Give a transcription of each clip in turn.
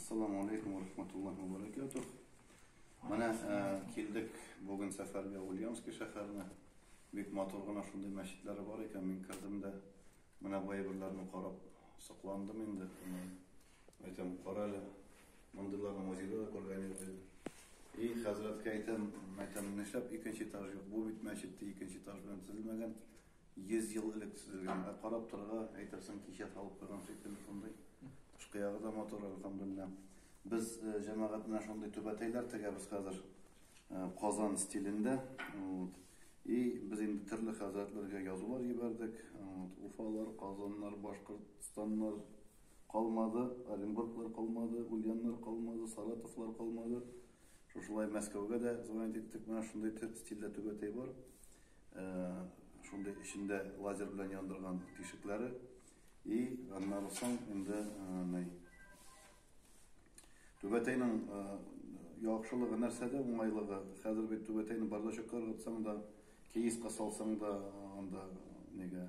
Ассаламу алейкум ва рахматуллахи ва баракатух. Менә килдек бүген сәфәргә Ульяновский шәһәренә. Бик матур гына шундый мәчетләре бар икән. Мин кердем дә менә бу әйберләрне карап сокландым инде. Әйтәм, кара әле, мондыйларны музейда да күргән юк иде. И хәзрәткә әйтәм, әйтәм, нишләп икенче этаж юк? Бу бит мәчет икенче этаж белән төзелмәгән. Йөз ел элек төзелгән, ә карап торырга, әйтерсең, кичә салып куйган шикелле шундый. Тышкы ягы да матур, әлхәмдүлилләһ. Без җәмәгать белән шундый түбәтәйләр тегәбез хәзер, Казан стилендә. И без инде төрле хәзрәтләргә язулар җибәрдек. Уфалар, Казаннар, Башкортстаннар калмады, Оренбурглар калмады, Ульяннар калмады, Саратовлар калмады. Шушылай Мәскәүгә дә звонить иттек. Менә шундый стильдә түбәтәй бар. Шундый эчендә лазер белән яндырган тишекләре. И аннары соң инде ней. Түбәтәйнең яхшылыгы нәрсәдә, уңайлыгы? Хәзер бит түбәтәйне бардачокка ыргытсаң да, киеска салсаң да анда нигә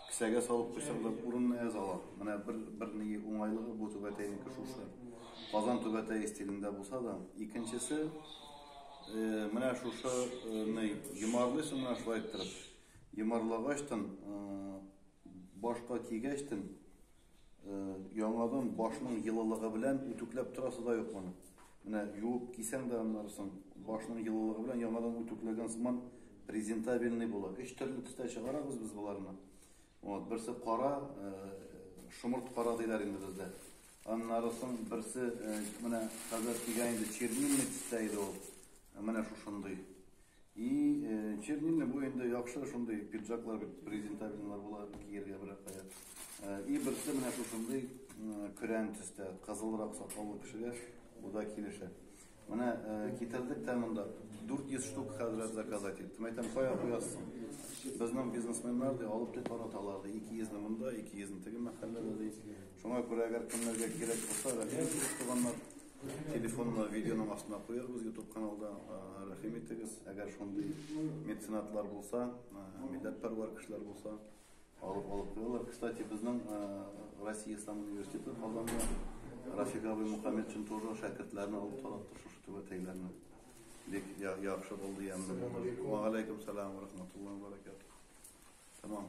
Кесәгә салып куйсаң да урынына яза ала. Менә бер бер ни уңайлыгы бу түбәтәйнеке шушы. Казан түбәтәе стилендә булса да, икенчесе менә шушы ни йомарлыйсың менә шулай иттереп. Йомарлагачтын башка кигәчтен Яңадан башның йылылыгы белән үтүкләп торасы да юк моны. Менә юып кисәң дә аннары соң башның йылылыгы белән яңадан үтүкләгән сыман презентабельный була. Өч төрле төстә чыгарабыз без боларны. Вот, берсе кара, шомырт кара диләр инде бездә. Аннары соң берсе менә хәзер кигән инде чернильный төстә иде ул. Менә шушындый. И чернильный бу инде яхшы шундый пиджаклар бит презентабельныйлар була кияргә берәр кая. И берсе менә шушындый көрән төстә, кызылрак сакаллы кешегә бу да килешә. Менә китердек тә монда 400 штук хәзрәт заказать иттем. Әйтәм, кая куясың? Безнең бизнесменнар ди, алып ди тараталар ди. 200 не монда, 200 не теге мәхәлләдә ди. Шуңа күрә әгәр кемнәргә кирәк булса, рәхим итегез, туганнар. Телефонны видеоның астына куярбыз YouTube каналда. Рәхим итегез, әгәр шундый меценатлар булса, милләтпәрвәр кешеләр булса, алып алып куялар. Кстати, безнең Россия Ислам университеты Казанда Рафик абый Мухаммед өчен тоже шәкертләрне алып таратты шушы түбәтәйләрне. Бик яхшы булды, ямьле булды. Ва алейкум салам ва рахматуллаһи ва баракатуһ. Тәмам.